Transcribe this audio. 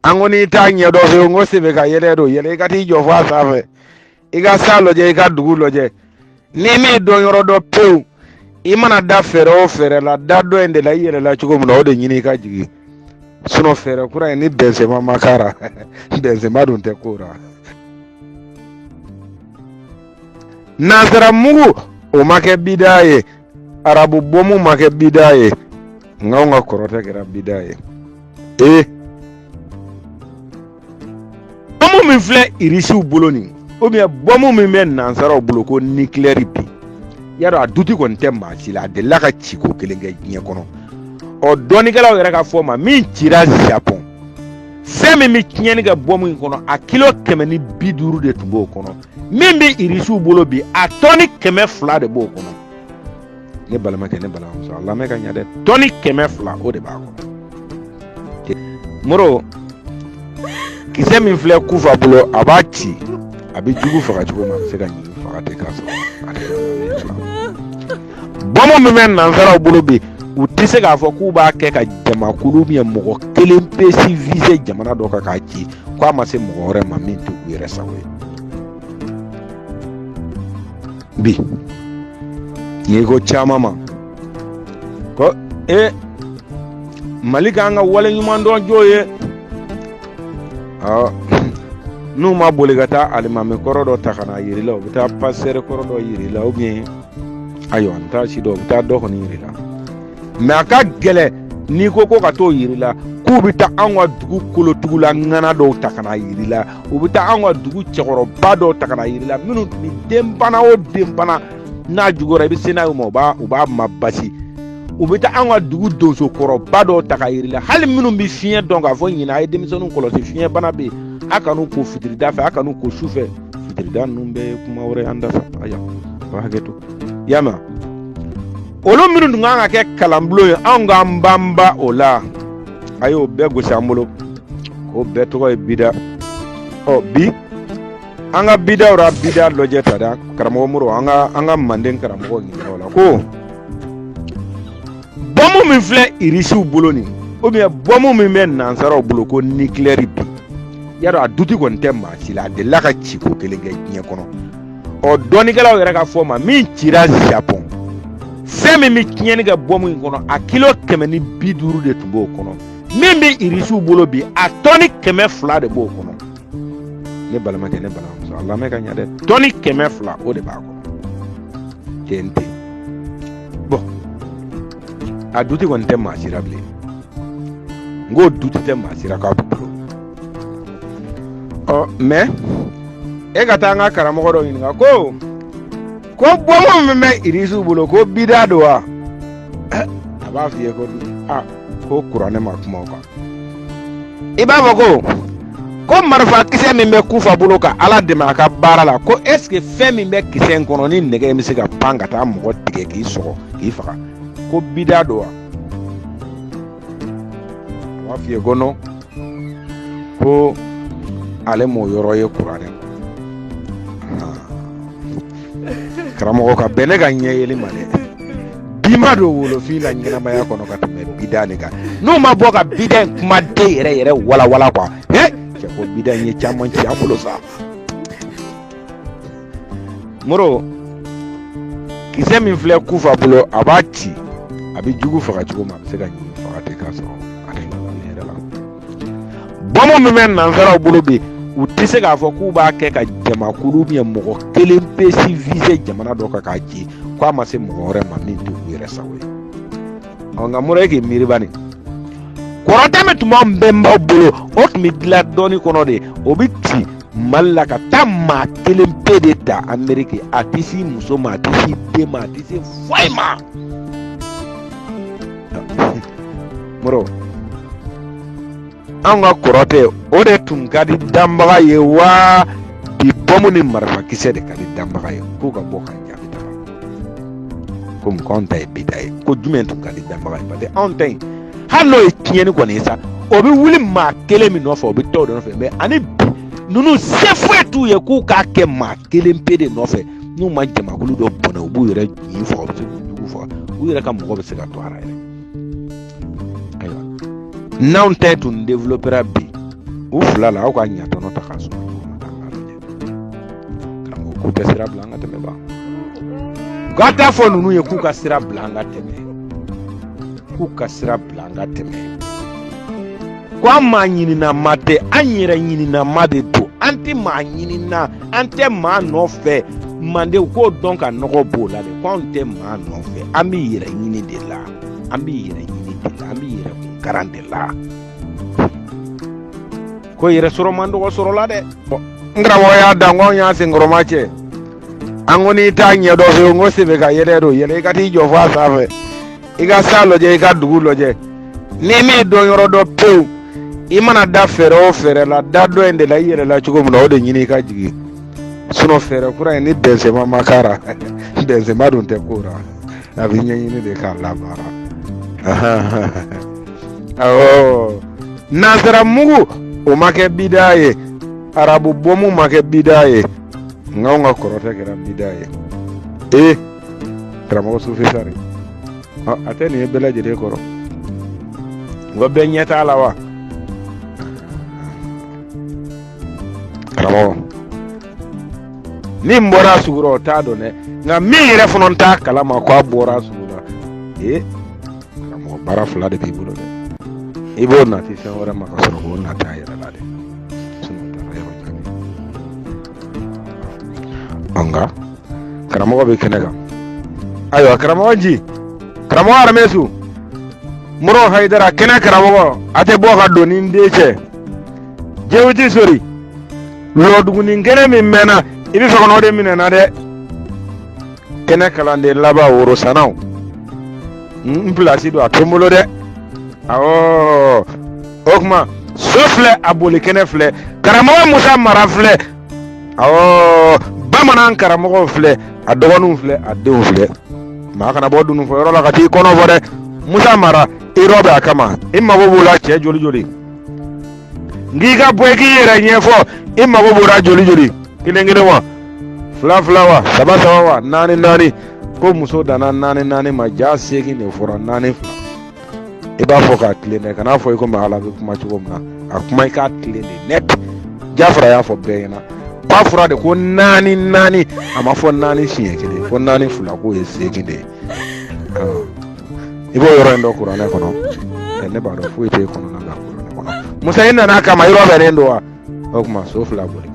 an ko n'i t'a ɲɛ dɔ fɛ yen n ko sen bɛ ka yɛlɛ don yɛlɛ i ka t'i jɔ fɔ a sanfɛ i ka san lajɛ i ka dugu lajɛ n'i m'i don yɔrɔ dɔn pewu i mana da fɛɛrɛ o fɛɛrɛ la da dɔ in de la i yɛlɛla cogo min na o de ɲini i ka jigin sinɔ fɛɛrɛ kura in ni bɛnsɛma ma k'a ra bɛnsɛma dun tɛ k'o ra nansara mugu o ma kɛ bida ye arabu bɔmu ma kɛ bida ye nka anw ka kɔrɔtɛ kɛra bida ye ee bɔmu min filɛ irisiw bolo nin ubiyɛn bɔmu min bɛ nansaraw bolo ko nikilɛri bi yadɔ a duti kɔni tɛ maa si la a delila ka ci ko kelen kɛ diɲɛ kɔnɔ ɔ dɔnnikɛlaw yɛrɛ ka fɔ ma min cira japɔn fɛn min bɛ tiɲɛni kɛ bɔmu in kɔnɔ a kilo kɛmɛ ni bi duuru de tun b'o kɔnɔ min bɛ irisiw bolo bi a tɔni kɛmɛ fila de b'o kɔnɔ ne balimakɛ ne balimamuso a lamɛn ka ɲɛ dɛ tɔni kɛmɛ fila o de b'a kɔnɔ moro kisɛ min filɛ kufa bolo a b'a ci a bɛ jugu faga cogo min a bɛ se ka ɲin faga ten k'a sɔrɔ a tɛ bɔmu min bɛ nansaraw bolo bi u tɛ se k'a fɔ k'u b'a kɛ ka jamakulu min mɔgɔ kelen pe si vise jamana dɔ kan k'a ci ko a ma se mɔgɔ wɛrɛ ma min tɛ u yɛrɛ sago ye bi n'i ko caman ma ko e mali k'an ka wale ɲuman dɔn jo ye n'u ma boli ka taa alimami kɔrɔ dɔ ta ka na yiri la u bɛ taa pasitɛri kɔrɔ dɔ yiri la ubiyɛn ayiwa n t'a si dɔn u bɛ taa dɔ kɔni yiri la mɛ a ka gɛlɛn n'i ko ko ka t'o yiri la k'u bɛ taa anw ka dugu kolotugula ŋana dɔw ta ka na yiri la u bɛ taa anw ka dugu cɛkɔrɔba dɔw ta ka na yiri la minnu ni denbana o denbana n'a juguyara i bɛ se n'a ye u ma u b'a mabasi u bɛ taa an ka dugu donso kɔrɔba dɔw ta ka yiri la hali minnu bɛ fiɲɛ dɔn k'a fɔ ɲinan a ye denmisɛnninw kɔlɔsi fiɲɛbana bɛ yen a kan'u ko fitirida fɛ a kan'u ko su fɛ fitirida ninnu bɛ kuma wɛrɛ an da sa aya a hakɛ to y'a mɛn olu minnu tun kan ka kɛ kalanbulon ye anw k'an banba o la a y'o bɛɛ gosi an bolo k'o bɛɛ tɔgɔ ye bida ɔ bi an ka bidaw ra bida lɔjɛ ta da karamɔgɔ moro an ka an ka manden karamɔgɔ ɲininka o la ko bɔmu min filɛ irisiw bolo nin ubiyɛn bɔmu min bɛ nansaraw bolo ko nikilɛri bi yadɔ a duti kɔni tɛ maa si la a delila ka ci ko kelen kɛ diɲɛ kɔnɔ ɔ dɔnnikɛlaw yɛrɛ ka fɔ ma min cira japɔn fɛn min bɛ tiɲɛni kɛ bɔmu in kɔnɔ a kilo kɛmɛ ni bi duuru de tun b'o kɔnɔ min bɛ irisiw bolo bi a tɔni kɛmɛ fila de b'o kɔnɔ ne balimakɛ ne balimamuso a lamɛn ka ɲɛ dɛ tɔni kɛmɛ fila o de b'a kɔnɔ TNT bon a duti kɔni tɛ maa si la bilen n ko duti tɛ maa si la k'a bolo ɔ mɛ e ka taa an ka karamɔgɔ dɔ ɲininka ko ko bɔmu min bɛ irisiw bolo ko bida don wa a b'a f'i ye ko kuranɛ ma kuma o kan i b'a fɔ ko ko marifa kisɛ min bɛ kufa bolo ka ala dɛmɛ a ka baara la ko est ce que fɛn min bɛ kisɛ in kɔnɔ ni nɛgɛ in bɛ se ka pan ka taa mɔgɔ tigɛ k'i sɔgɔ k'i faga ko bida don wa a b'a f'i ye ko non ko ale m'o yɔrɔ ye kuranɛ karamɔgɔ ka bɛn ne ka ɲɛ yeli ma dɛ bi ma don wolofin na ɲɛnamaya kɔnɔ ka tɛmɛ bida nin kan n'u ma bɔ ka bida in kuma den yɛrɛ yɛrɛ walawala kuwa cɛ ko bida in ye caman ci an bolo sa moro kisɛ min filɛ kufa bolo a b'a ci a bɛ jugu faga cogo min a bɛ se ka ɲin faga ten k'a sɔrɔ a tɛ ɲɔgɔn ye yɛrɛ la bɔmu min bɛ nansaraw bolo bi u tɛ se k'a fɔ k'u b'a kɛ ka jamakulu ubiyɛn mɔgɔ kelen pe si vize jamana dɔ kan k'a ci k'a ma se mɔgɔ wɛrɛ ma min tɛ u yɛrɛ sago ye ɔ nka moro e k'i miiri bani kɔrɔtɛ min tun b'an bɛnbaw bolo o tun bɛ dilan dɔnni kɔnɔ de o bɛ ci mali la ka taa maa kelen pe de ta ameriki a tɛ se muso ma a tɛ se den ma a tɛ se foyi ma moro an ka kɔrɔtɛ o de tun ka di danbaga ye wa bi bɔmu ni marifakisɛ de ka di danbaga ye k'u ka bɔ ka jaabi ta komi ko anw ta ye bida ye ko jumɛn tun ka di danbaga ye parce que anw ta in hali n'o ye tiɲɛni kɔni ye sa o bɛ wuli maa kelen min nɔfɛ o bɛ taa o de nɔfɛ mɛ ani bi ninnu se foyi t'u ye k'u k'a kɛ maa kelen pe de nɔfɛ n'u ma jamakulu dɔ bɔnɛ u b'u yɛrɛ ɲin faga u bɛ se k'u jugu faga u yɛrɛ ka mɔgɔ bɛ se ka to a la yɛrɛ ayiwa n'anw ta tun développera bi u fila la aw ka ɲatɔnɔ ta k'a sɔrɔ karamɔgɔ k'u tɛ sira bila an ka tɛmɛ ban u ka taa fɔ ninnu ye k'u ka sira bila an ka tɛmɛ k'u ka sira bila an ka tɛmɛ ko an maa ɲinina ma tɛ an yɛrɛ ɲinina ma de don an tɛ maa ɲinina an tɛ maa nɔfɛ mandenw k'o dɔn ka nɔgɔ b'o la de ko anw tɛ maa nɔfɛ an bɛ yɛrɛ ɲini de la an bɛ yɛrɛ ɲini de la an bɛ yɛrɛ kun karan de la ko yɛrɛ sɔrɔ man dɔgɔ sɔrɔ la dɛ n karamɔgɔ y'a dan ko anw y'a senkɔrɔma cɛ an ko n'i t'a ɲɛdɔn fewu n ko sen bɛ ka yɛlɛ don yɛlɛ i ka t'i jɔ fo a sanfɛ i ka san lajɛ i ka dugu lajɛ n'i m'i jɔyɔrɔ dɔn pewu i mana da fɛɛrɛ o fɛɛrɛ la da dɔ in de la i yɛlɛla cogo min na o de ɲini i ka jigin sinɔn fɛɛrɛ kura in ni bɛnsenma ma k'a ra bɛnsenma dun tɛ ko ra a bɛ ɲɛɲini de k'a labaara awɔ nansara mugu o ma kɛ bidaa ye arabu bɔmu ma kɛ bidaa ye nka anw ka kɔrɔtɛ kɛra bidaa ye ee karamɔgɔ sufisari a tɛ nin ye bɛɛ lajɛlen kɔrɔ wa bɛɛ ɲɛ t'a la wa karamɔgɔ min bɔra a sugu rɔ o t'a dɔn dɛ nka min yɛrɛ fana t'a kalama ko a bɔra a sugu la ee karamɔgɔ baara fila de b'i bolo dɛ i b'o nati fɛn wɛrɛ ma ka sɔrɔ k'o nati a yɛrɛ la dɛ an ka karamɔgɔ bɛ kɛnɛ kan ayiwa karamɔgɔ ji karamɔgɔ aramisu mori hayidara kɛnɛ karamɔgɔ a tɛ bɔ ka don ni n dencɛ jewuti sori lɔdugunin kɛnɛ min mɛnna i bɛ fɛ ka n'o de minɛ n na dɛ kɛnɛ kalanden laban worosanaw n pilasi don a tɛ n bolo dɛ awɔ o tuma so filɛ a boli kɛnɛ filɛ karamɔgɔ musa mara filɛ awɔ bamanan karamɔgɔw filɛ a dɔgɔninw filɛ a denw filɛ maa kana bɔ dununfɔ yɔrɔ la ka t'i kɔnɔ fɔ dɛ musa mara i rɔbɛn a kama i mago b'o la cɛ joli joli n k'i ka bɔ i k'i yɛrɛ ɲɛfɔ i mago b'o la joli joli kelen kelen wa fila fila wa saba saba wa naani naani ko muso danna naani naani ma ja seegin de fɔra naani fila i b'a fɔ k'a tilen dɛ kan'a fɔ i komi ala bɛ kuma cogo min na a kuma i k'a tilen de net jafara y'a fɔ bɛɛ ɲɛna a fɔra de ko naani naani a ma fɔ naani siɲɛ kelen fo naani fila k'o ye seegin de ye i b'o yɔrɔ in dɔn kuranɛ kɔnɔ ne b'a dɔn foyi t'e kɔnɔna la kuranɛ kɔnɔ musa i nana a kama yɔrɔ bɛnnen don wa o tuma so filɛ a boli